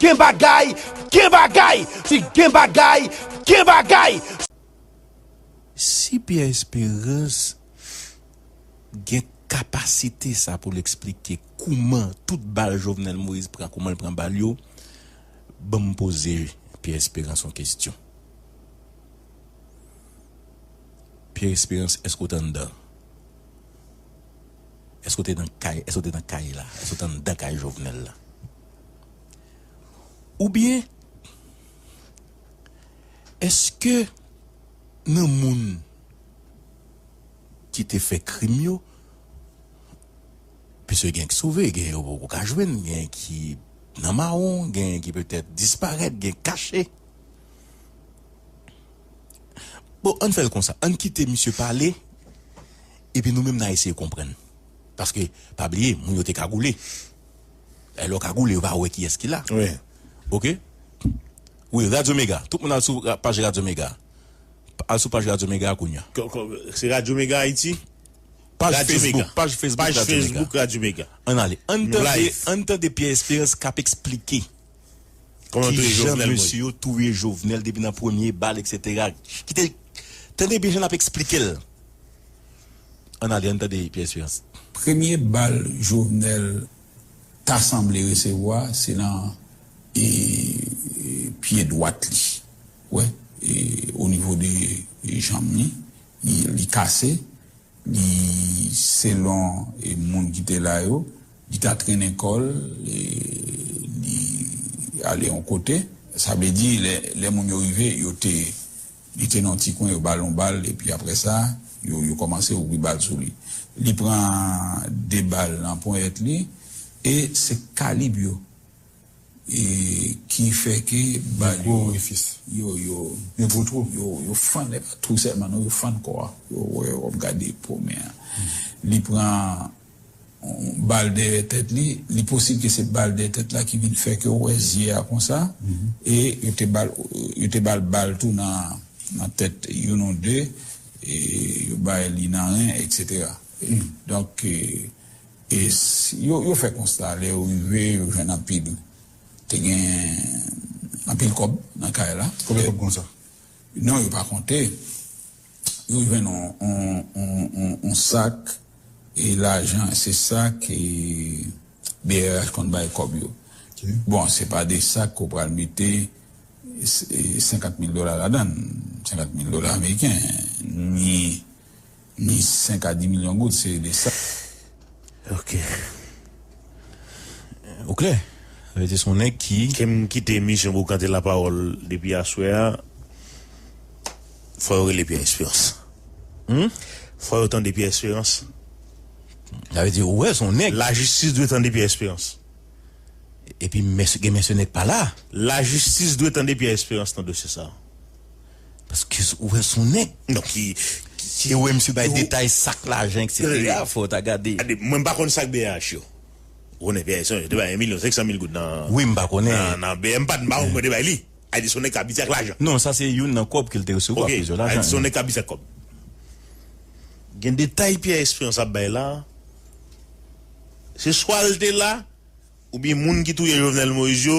Gen bagay! Gen bagay! Si gen bagay! Gen bagay! Si Pierre Espérance gen kapasite sa poul eksplike kouman tout bal Jovenel Moïse pran koumanl pran bal yo banm poze Pierre Espérance yon kesyon Pierre Espérance eske ou t anndan eske ou te nan kay eske ou te nan kay la eske ou t anndan kay Jovenel la. Oubyen, èske nan moun ki te fè krim yo, piske gen ki sove, gen yo poko ka jwenn, gen ki nan mawon, gen ki petèt disparèt, gen ki kache. Bon, ann fè l konsa, ann kite misye pale, epi nou menm n a eseye konprann. Paske, pa bliye, moun yo te kagoule. Lè yo kagoule yo pa wè kiyès ki la ok wi radyo mega tout moun al sou paj radyo mega al sou paj radyo mega kounya se radyo mega ayiti paj facebook paj facebook radyo mega ann ale ann tande pyè esperans kap esplike. Kijan mesye yo touye jovenel depi nan premye bal etc kite tande byen jan lap esplikel ann ale ann tande pierre esperance. Premye bal jovenel ta sanble resevwa se nan pye dwat li ou wè onivo de janm li li kase Li selon moun ki te la yo, li ta trennen kò l, li ale yon kote. Sa vle di lè moun yo rive, yo te, li te nan yon ti kwen, yo ba l yon bal epi aprè sa, yo kòmanse ouvri bal sou li. Li pran 2 bal nan ponyèt li e se kalib yo. E ki fè ke bal yo. Gen gwo orifis. Yo, yo. Gen gwo twou. Yo, yo fann, e pa twou sèlman non, yo fann kò a. Yo wè w ap gade po men an. Li pran yon bal dèyè tèt li. Li posib ke se bal dèyè tèt la ki vin fè ke w wè zye a konsa. E yo te ba l, yo te ba l bal tou nan, nan tèt youn ou de. E yo bay li nan ren, eksetera. Donk. Yo fè konsta lè yo rive yo jwenn anpil te gen anpil kòb nan kay la. Konbyen kòb konsa? Non yo pa konte. Yo jwenn yon sak e lajan se sa ke brh konn bay kòb yo. Bon se pa de sak ke w pral mete 50 mil dola ladan l. 50 mil dola ameriken ni. Ni 5 a 10 milyon goud se de sa. Ok. Ou klè. Sa vle di son nèg ki. Ke m kite emisyon Boukante Lapawòl depi aswè a. Fò yo rele Pyè Esperans. Humm. Fò yo tande Pyè Esperans. Sa vle di ou wè son nèg. Lajistis dwe tande Pyè Esperans. Epi men gen men se nèg pa la. Lajistis dwe tande Pyè Esperans nan dosye sa. Paske ou wè son nèg ki ki e wè misye bay detay sak lajan etc fòw ta gade. Mwen m pa konn sak BH yo konnen BH son yo te bay 1 milyon 500 mil goud nan wi m pa konnen nan BH m pa m pa konn mwen te bay li a di son nèg ki abitye ak lajan. Non sa se youn nan kòb ke l te resevwa ok a di son nèg ki abitye ak kòb gen detay Pierre Espérance ap bay la se swa l te la oubyen moun ki touye Jovenel Moïse yo.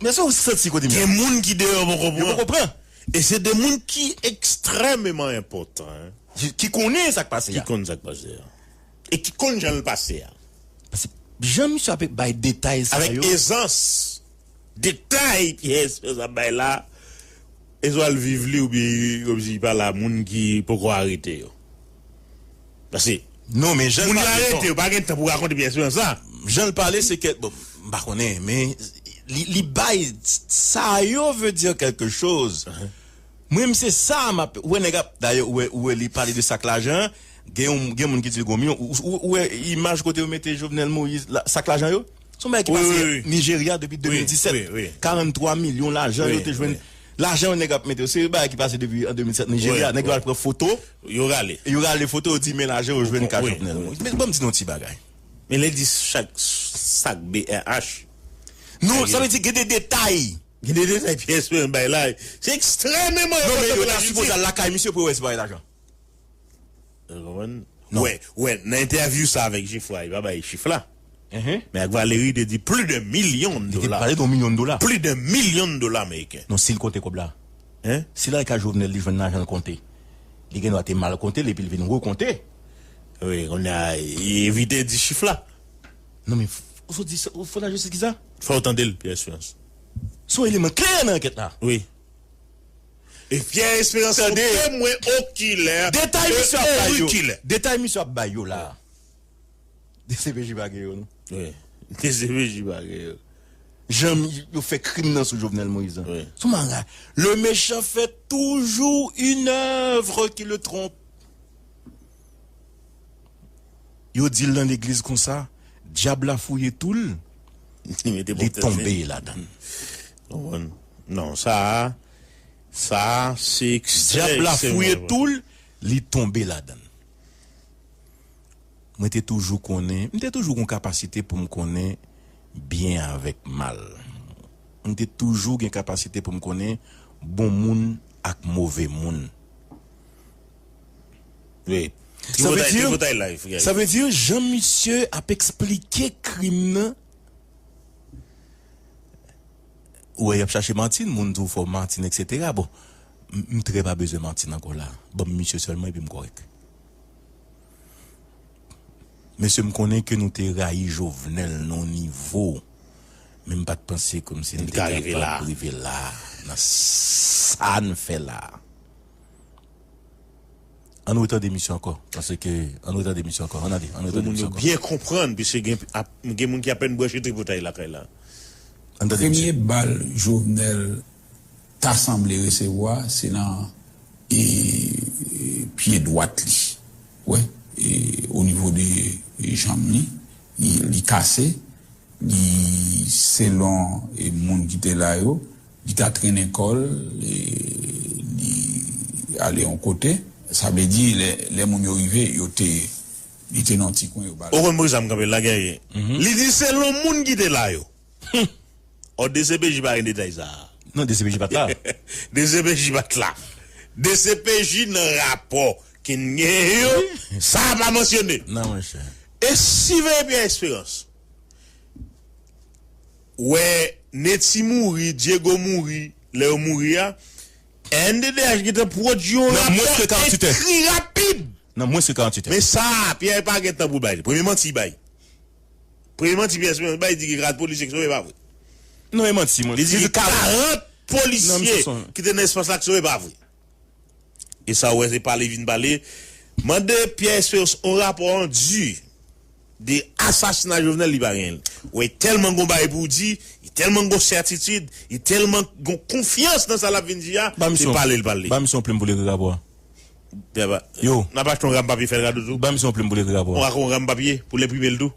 Men sa ou santi kote m ye a. Gen moun ki deyò poko pran. Yo poko pran. E se de moun ki ekstrèmeman enpòtan. Ki konnen sa k pase a. Ki konn sa k pase a. E ki konn jan l pase a. Pase jan misye ape bay detay sa yo. Avèk ezans. Detay Pierre Esperance ap bay la. E swa l viv li oubyen kòmsi li pa la moun ki poko arete yo. Pase Non men jan l pale non. Moun yo arete yo pa gen tan pou rakonte Pierre Esperance la. Jan l pale se kè bon m pa konnen men li bay sa yo veut dire quelque chose mwen menm se sa m ap wè nèg ap dayè ou wè li pale de sak lajan an gen yon gen moun ki di l gon milyon ou wè imaj kote yo mete Jovenel Moïse sak lajan yo. Son bagay ki pase Nigeria depi 2017. 43 milyon lajan yo te jwenn. Lajan yon nèg ap mete yo. Se yon bagay ki pase depi an 2007 Nigeria. Nèg yo al pran foto. Yo rale. Yo rale foto yo di men lajan yo jwenn ka Jovenel Moise. Men banm di nou yon ti bagay. Men lè di chak sak brh. Non sa vle di gen de detay. Gen de detay Pierre Esperance bay la. Se ekstrememan enpòtan pou Ayiti. Non men yo ta sipoze al lakay misye pou yo wè si pa gen lajan. Wè nan entèvyou sa avèk Jefra li pa bay chif la men ak Valery li te di pli de milyon dola pli de milyon dola ameriken. Non sil konte kòb la si lal ka Jovenel li jwenn lajanl konte li gen dwa te mal kontel epil vin rekonte. Wi kounya evite di chif la. Non men ou sot di sa ou fè lajistis kisa. Fòw tandel Pierre Esperance. Son eleman kle nan ankèt la. Wi. E Pierre Esperance son temwen okilè e orikilè. Detay misye ap bay yo la a dcpj pa gen yo non. Wi dcpj pa gen yo. Jan yo fè krim nan sou Jovenel Moïse la. Sou mara. Le méchant fait toujours une œuvre qui le trompe. Yo di l nan legliz konsa, dyab la fouye tou l, li tonbe ladan l. Konprann? Non, sa a, sa a se ekstrè, ekstrè. Dyab la fouye tou l, li tonbe ladan l. Mwen te toujou konnen, m te toujou gen yon kapasite pou m konnen byen avèk mal. M te toujou gen kapasite pou m konnen bon moun ak move moun. Wi. Sa vle di, sa vle di jan misye ap esplike krim nan, Ou wè yap chache Martine moun di w fò Martine etc bon m trè pa bezwen Martine ankò la banm misye sèlman epi m kòrèk Mesye m konnen ke nou te rayi Jovenel nan yon nivo men m pat panse ke misye te kapab rive la nan sa n fè la. An nou retande misye ankò pase ke an nou retande misye ankò an nade an nou retande misye ankò. Byen konprann piske gen ap gen moun ki apèn branche tripotay lakay la. An nou tande misye. Premye bal Jovenel ta sanble resevwa se nan e pye dwat li wè e o nivo de janm li li kase li selon e moun ki te la yo Li ta trennen kò l, li ale yon kote. Sa vle di, lè moun yo rive, yo te, li te nan yon ti kwen, yo ba l. Ou konn bri zam kanpe l la, Guerrier? Li di selon moun ki te la yo. Hum! Ò, dcpj pa gen detay sa a. Non, dcpj pa t la. Dcpj pa t la. Dcpj nan rapò ki n genyen yo, sa a pa mansyone. Non, monchè. E siveye Pierre Espérance? wè Netty mouri, Diego mouri, lè yo mouri a rnddh gentan pwodui yon rapò ekri rapid nan mwens ke 48 è. Men sa a Pierre pa gen tan pou l bay li. Premye manti li bay. Premye manti Pierre Esperance bay li di gen 40 polisye ki sove e pa vre. Non e manti. Li di gen 40 polisye ki te nan espas la ki sove e pa vre. E sa ou wè se pale vin pale. Mande Pierre Esperance yon rapò an di de asasina Jovenel li pa genyenl. Wè telman gon bagay pou ou di, e telman gon sètitid, e telman gon konfyans nan sa lap vin di a, se pale li pale. Ba misye yon plim pou li ekri rapò a. Yo. Nap achte yon ram papye fèl kado tou. Ba misye yon plim pou li ekri rapò a. Ou ak yon ram papye pou l enprimel tou.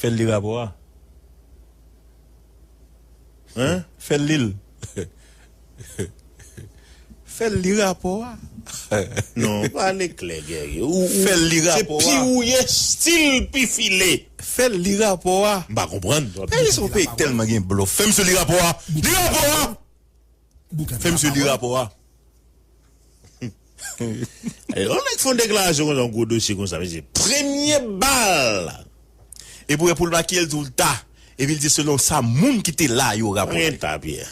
Fèl li rapò a hein fèl lil fèl li rapò a non pale klè guerrier ou ou fèl li rapò a se pi ou ye stil pi file fèl li rapò a m pa konprann peyi sa yon peyi k tèlman gen blòf fèm sou li rapò a li rapò a. Fè misye li rapò a. Yon nèg fon deklarasyon konsa yon gwo dosye konsa mesye premye bal epi ou wè poul makyel tou ta epi li di selon sa moun ki te la yo rapote. Pa gen ta Pierre.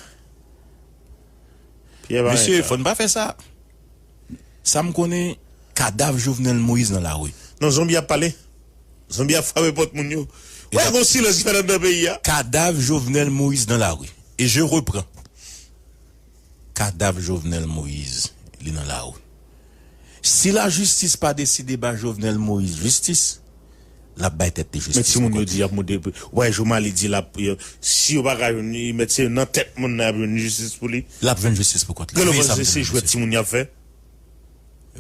Pierre pa gen ta. Mesye fò n pa fè sa. Sa m konnen kadav Jovenel Moïse nan lari. Non zonbi ap pale. Zonbi ap frape pòt moun yo. Ou wè gon silans ki fèt anndan peyi a. Kadav Jovenel Moïse nan lari. E je repran. Kadav Jovenel Moïse li nan lari. Si lajistis pa deside ba Jovenel Moïse jistis. lap bay tèt li Men jistis timoun yo di yap mou de wè jooma li di lap si yo paka jwenn li met se nan tèt moun nan yap jwenn jistis pou li. Lap jwenn jistis pou kont li. Veye sa m di nou mesye. Veye sa m di nou mesye. Gèlè panse se jwèt timoun yap fè.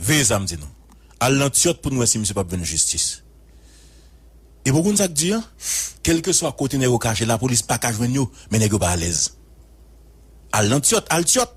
Veye sa m di nou. Al nan tyòt pou nou wè si misye pap jwenn jistis. Epi ou konn sak di an? Kelkeswa kote nèg yo kache lapolis paka jwenn yo men nèg yo pa alèz. Al nan tyòt, al tyòt.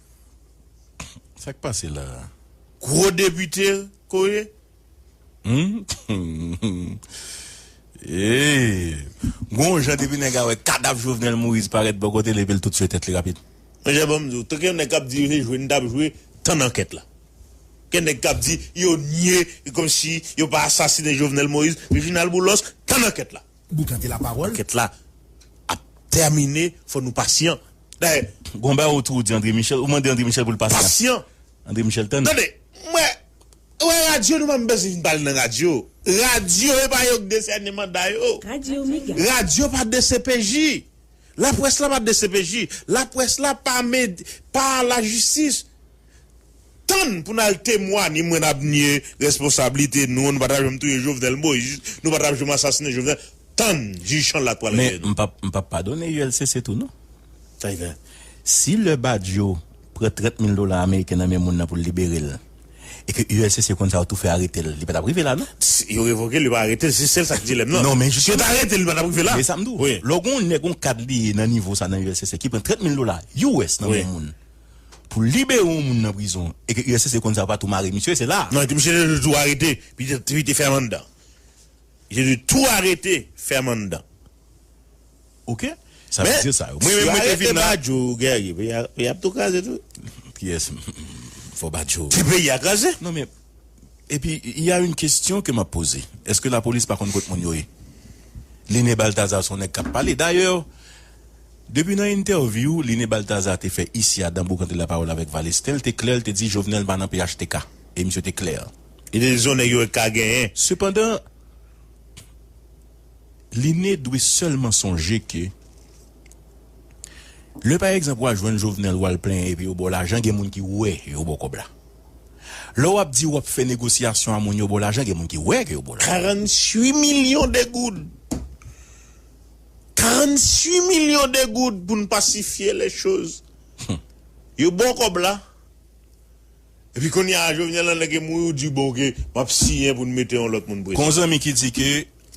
Sak pase la a? Gwo depite ko ye? Humm eeyy gon yon jan depi nèg a wè kadav Jovenel Moïse parèt bò kote l epi l tout tchwe tèt li rapid. Monchè banm diw, te gen nèg kap di se jwe n tap jwe tann ankèt la. Gen nèg kap di yo nye komsi yo pa asasine Jovenel Moïse, Reginald Boulos tann ankèt la. Boukante la parol. Ankèt la ap tèmine fò nou pasyan dayè gon bagay ou tou di André Michel ou mande André Michel pou l pasyan pasyan André Michel tann. Tande mwen wè radyo nou pa bezwen vin pale nan radyo radyo epa yo k desène manda yo radyo pa dcpj laprès la pa dcpj laprès la pa pa lajistis. Tann pou nal temwa ni mwen nap nye responsab lite nou nou pata janm touye jovenel moise nou patap janm asasine jovenel tann jij chanl la pwal rele nou. Men m pap padone ULCC tou non. Tiger, si lè Badio pran 30 mil dola ameriken nan men moun nan pou l libere l e ke ULCC konn sa yo tou fè arete l, li pa tap rive la non. Yo revoke l yo pa arete l se sèl sa ki dilèm nan. Non men jistis. Si yo ta arete l li pa tap rive la. Men sa m di w, lè w gen yon nèg yon kad li ye nan nivo sa nan ULCC ki pran 30 mil dola US nan men yon moun. pou libere yon moun nan prizon e ke uscc konn sa yo pa tou mare misye se la. Non epi misye te dwe tou arete epi te fèm anndan li te dwe tou arete fèm anndan ok sa vle di sa yo mwen menm mwen te vin la yo gèrye peyi ap tou kraze tou kiyès fò badjo ti peyi a kraze non men epi y a yn kestyon ke map poze eske lapolis pa konn kot moun yo ye Lene Balthazar son nèg kap pale dayè. Depi nan entèvyou Line Balthazar te fè isi a dan Boukante Lapawòl avèk Valestin, l te klè, l te di Jovenel pa nan phtk. E misye te klè. E te di s on nèg yo ka genyen. Sepandan, Line dwe sèlman sonje ke lè pa egzanp w al jwenn Jovenel w al plenyen epi yo ba w lajan gen moun ki wè yo ba w kòb la. Lè w ap di w ap fè negosyasyon a moun yo ba w lajan gen moun ki wè ke yo ba w lajan. 48 milyon de goud! 48 millions de goud pou n pasifye les choses yo baw kòb la epi kounye a Jovenel nan nèg e mouri ou di bon ok map siyen pou n mete yon lòt moun prezidan. Gon zanmi ki di ke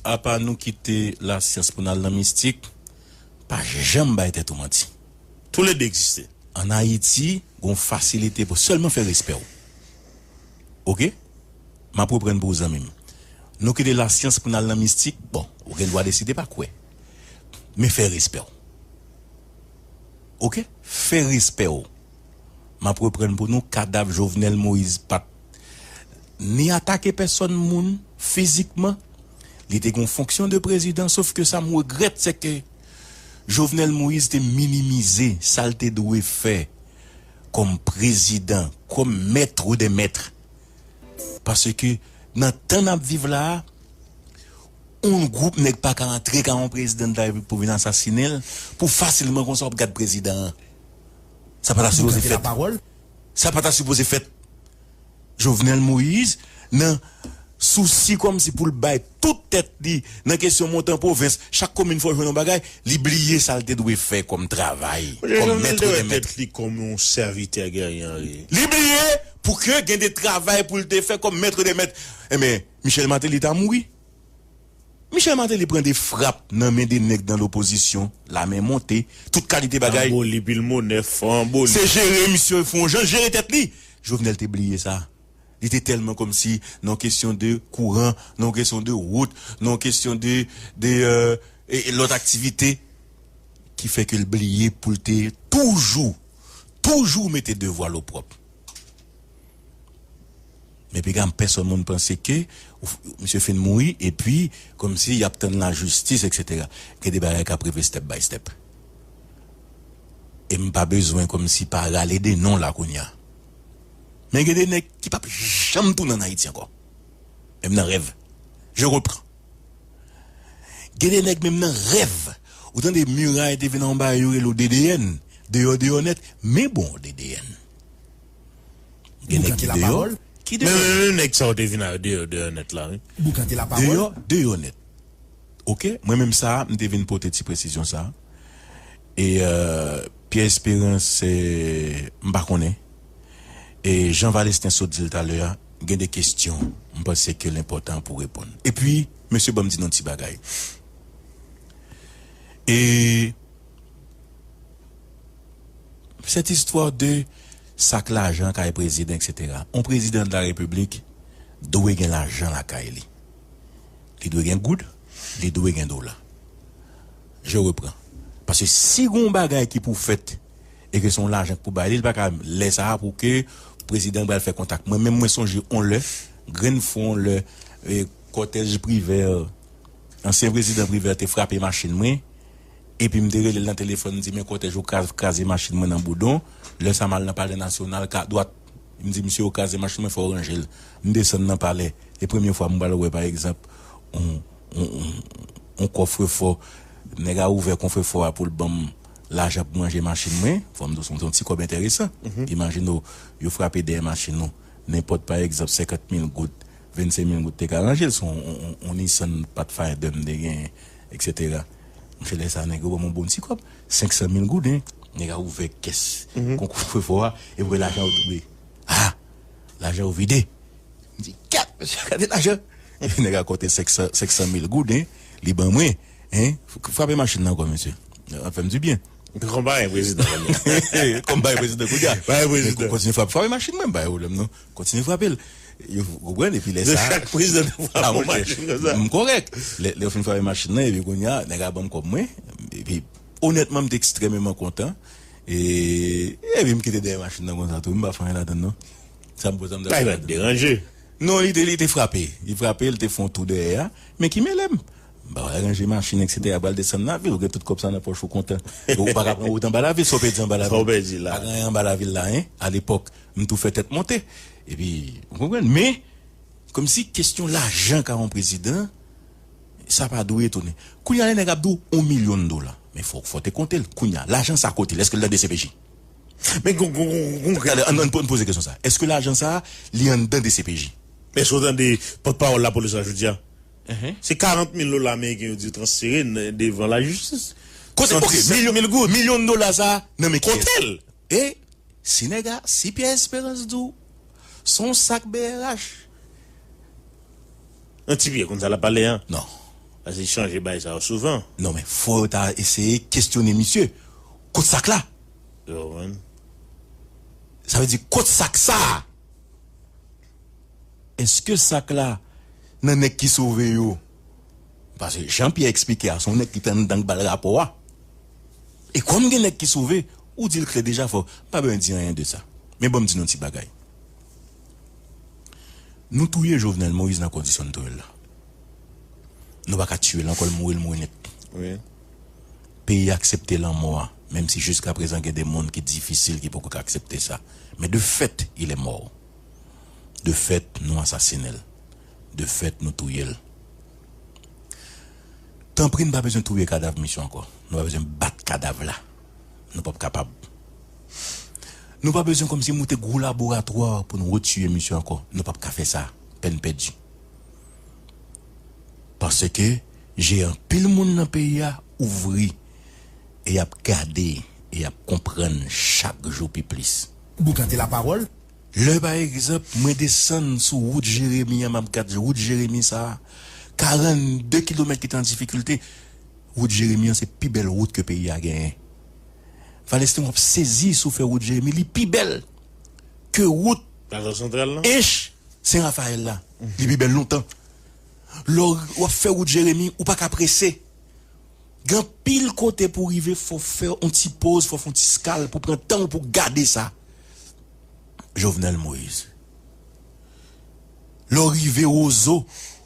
apa nou kite lasyans pou n al nan mistik, pa janm bay tèt ou manti. Tou le de egziste. An Ayiti, gon fasilite pou sèlman fè respè w. Ok. Map reprann pou ou zanmim. Nou kite lasyans pou nal nan mistik bon ou gen dwa deside pa kwè men fè respèw ok fè respèw map reprann pou nou kadav Jovenel Moïse pat ni atake pèsòn moun fizikman li te gen yon fonksyon de prezidan sof ke sam regrèt se ke Jovenel Moïse te minimize sal te dwe fè kòm prezidan kòm mètre de mètre Paske nan tan nap viv la a, oun gwoup nèg pa ka antre ka oun prezidan dela repiblik pou vin asasine l, pou fasilman konsa wap gad prezidan an. Sa pa ta sipoze fèt. Sa pa ta sipoze fèt. Jovenel Moïse nan sousi kòmsi pou l bay. tout tèt li nan kesyon monte an pwovens, chak komin fò jwenn yon bagay, li bliye sa l te dwe fè kòm travay, kòm mèt ou remèt li. Li bliye pou ke gen de travay pou l te fè kòm mèt ou remèt. Enben, Michel Martelly ta mouri. Michel Martelly pran de frap nan men de nèg nan lopozisyon, lame monte, tout kalite bagay. Se jere misye, fon jan l jere tèt li. Jovenel te bliye sa. Li te tèlman kòmsi nan yon kesyon de kouran, nan yon kesyon de wout, nan yon kesyon de de lòt aktivite ki fè ke l bliye pou l te toujou, toujou mete devwa l opwòp. Men piga m pèsòn moun panse ke misye fin mouri epi kòmsi y ap tann lajistis eksetera. Gen de bagay k ap rive step by step. E m pa bezwen kòmsi pa rale de non la kounya. Men gen de nèg ki pap janm tounen an Ayiti ankò. Menm nan rèv. Je reprends. Gen de nèg menm nan rèv. Ou tande Muray te vin anba yo rele w DDN. Deyò deyò nèt. Men bon DDN. Gen nèg ki deyò. Ki deyò. Men menm nèg sa w te vin a yo deyò deyò nèt la wi. Deyò deyò nèt. Ok. Mwen menm sa a m te vin pote ti presizyon sa a. E Pierre Espérance m pa konnen. Jan Valesten sot di l talè a, gen de kestyon m panse ke l enpòtan pou reponn. Epi, mesye banm di n yon ti bagay. E cette histoire de sak lajan kay prezidan eksetera. Yon prezidan de la repiblik dwe gen lajan lakay li. Li dwe gen goud, li dwe gen dola. Je reprends. Paske si gen yon bagay ki pou fèt. e ke se yon lajan k pou bay li, li pa ka lè sa a pou ke prezidan pral fè kontak. Mwen menm mwen sonje yon lè, grenn fwa yon lè kòtèj Privert, ansyen prezidan Privert te frape machin mwen, epi m te rele l nan telefòn m di men kòtèj yo kraze machin mwen nan Boudon, lè sa m al nan palè nasyonal ka dwat, m di misye yo kraze machin mwen fò w ranje l. M desann nan palè, e premye fwa m pral wè pa egzanp yon yon kòfrefò, nèg a ouvè konfrefò a pou l ban m lajan pou manje machin mwen, fò m di w se yon ti kòb enteresan. Imajine w, yo frape dèyè machin ou, nenpòt pa egzanp senkant mil goud, vennsenk mil goud te ka ranje l, se yon Nissan Pathfinder m te genyen eksetera. Monchè lè sa a nèg yo ban m yon bon ti kòb, senksan mil gouden. Nèg a ouvè kès konkou fè fò a, epi wè lajan yo tonbe. A! Lajan yo vide. M di, Gad! Mesye, gade lajan! Epi nèg a konte senksan mil gouden, li ban mwen. Hein frape machine nan ankò mesye ap fèm du bien. Kon bagay prezidan kounye a. Kon bagay prezidan kounye a. Bagay prezidan. Kontinye frape. Frape machin mwen m pa gen pwoblèm non. Kontinye frapel. Ou konprann epi lè sa. Lè chak prezidan ta frape yon machin konsa. M korèk. Lè yo fin frape machin nan epi kounye a nèg a banm kòb mwen epi onètman m te ekstrèmeman kontan e epi m kite dèyè machin nan konsa tou m pa fè anyen ladann non. Sa m pou sa m ta fè. Bagay pa t deranje. Non li te frape. Li frape li te fè yon tou dèyè a men ki mele m. M pa wè ranje machin etc pral desann lavi ou gen tout kòb sa nan pòch ou kontan e ou paka pran wout anba lavi sa w pèdi anba lavi pa gen anyen anba lavi la hein a lepòk m tou fè tèt monte epi ou konprann men kòmsi kesyon lajan ka yon prezidan sa pa dwe etone kounya lè nèg ap di w yon milyon dola men fò w te konte l kounya lajan sa kote l èske l nan dcpj men gon gon gon gade an n poze kesyon sa èske lajan sa li anndan dcpj. Èske w tande pòtpawòl lapolis la jodi a Se 40 mil dola ameriken yo di yo transfere devan lajistis. Kote ok milyon dola sa a nan men kiyès? Kotel? E si nèg a, si Pierre Esperance di w se yon sak brh? Nan ti Pierre konn sa lap pale an. Non. Pase li chanje bay sa yo souvan. Non men fò yo ta eseye kesyone misye. Kot sak la? Ou konprann? Sa vle di kot sak sa a? Eske sak la nan nèg ki sove yo? Paske jan Pyè eksplike a se yon nèg ki te anndan ki bal rapò a. E kòm gen nèg ki sove, ou dil klè deja fò pa bezwen di anyen de sa. Men banm di nou yon ti bagay. Nou touye Jovenel Moïse nan kondisyon nou touyel la. Nou pa ka tiyel ankò li mouri li mouri nèt. Peyi a aksepte lanmò a menm si jiskaprezan gen de moun ki difisil ki poko ka aksepte sa. Men de fèt il est mort. De fèt nou asasine l. De fèt nou touye l. Tanpri n pa bezwen touye kadav misye ankò. Nou pa bezwen bat kadav la. Nou pap kapab. Nou pa bezwen kòmsi moute gwo laboratwa pou n retuye misye ankò. Nou pap ka fè sa. Pèn pèdi. Paske je anpil moun nan peyi a ouvri e y ap gade e y ap konprann chak jou pi plis. Boukante la parole. Lè pa egzanp mwen desann sou wout Jeremi an map gad wout Jeremi sa 42 kilomèt ki te an difikilte wout Jeremi an se pi bèl wout ke peyi a genyen Valesten wap sezi sou fè wout Jeremi li pi bèl ke wout Ench Sen Rafayèl la li pi bèl lontan lè wap fè wout Jeremi ou paka prese. Gen anpil kote pou rive fò w fè on ti poz, fò w fè on ti skal pou pran tan w pou w gade sa. Jovenel Moise. Lè w rive Rozo,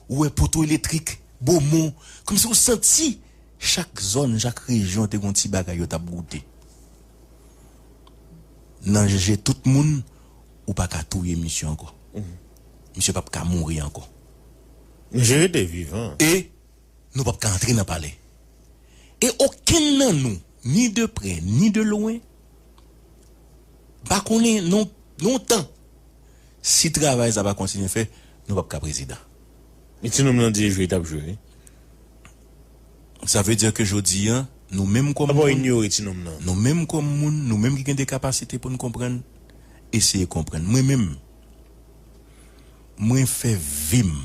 ou wè poto eletrik, Bomon, kòmsi ou santi chak zòn, chak rejyon te gon ti bagay yo t ap goute. Nan je tout moun, ou pa ka touye misye ankò. Misye p ap ka mouri ankò. Misye rete vivan. E. Nou pap ka antre nan palè. E okenn nan nou, ni de prè, ni de lwen, pa konnen non non tan, si travay sa pa kontinye fè, nou pap ka prezidan. E ti nonm lan di e jwe tap jwe wi. Sa vle dire ke jodi an, nou menm kòm moun. Apa w inyore ti nonm lan? Nou menm kòm moun, nou menm ki gen de kapasite pou n konprann, eseye konprann. Mwen menm, mwen fè vi m.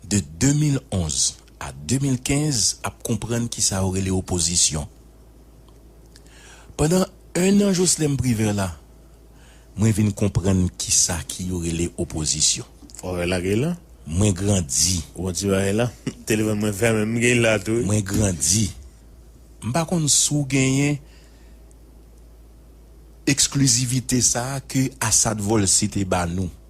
de 2011 a 2015 ap konprann kisa yo rele opozisyon. Pandan 1 an Joslèm Privè la, mwen vin konprann kisa ki yo rele opozisyon. Ou wè la Geylan? Mwen grandi. Ou wè ti bagay la? Telefòn mwen fè menm bgy la tou wi. Mwen grandi. M pa konn si w genyen eksklizivite sa a ke Asad Volcy te ba nou.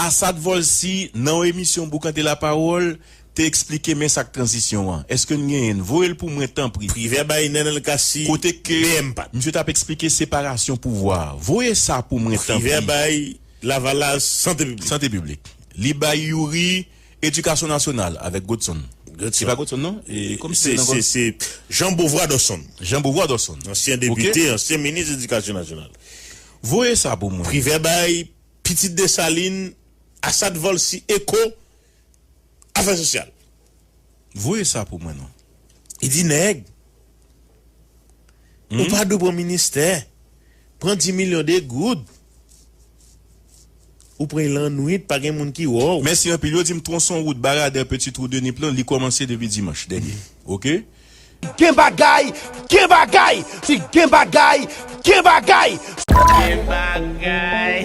Asad Volcy, nan yon emisyon Boukante Lapawòl, te eksplike men sa k tranzisyon an. Eske n genyen n? Voye l pou mwen tanpri. Privè bay nen l kasi kote kle m pa t. Misye t ap eksplike separasyon pouvwa. Voye sa pou mwen tanpri. Privè bay Lavalas sante piblik. Sante piblik. Li bay Youri edikasyon nasyonal avèk Godson. Godson. Se pa Godson non? E kòmsi se nan Godson? Se Jean Beauvoir Dodson. Jean Beauvoir Dodson. Ansyen depite, ansyen minis edikasyon nasyonal. Voye sa pou mwen. Privè bay Pitit Desalin, Asad Volcy Echo, Afè Sosyal. Voye sa pou mwen non. Li di nèg, ou pa dwe pran ministè, pran di milyon de goud, ou pran y lannwit pa gen moun ki wè w. Mèsi anpil. Yo di m twonson wout Baradè Petit Trou de Nip lan li kòmanse depi dimanch dènye. Ok. Gen bagay, gen bagay! Si gen bagay, gen bagay! Gen bagay!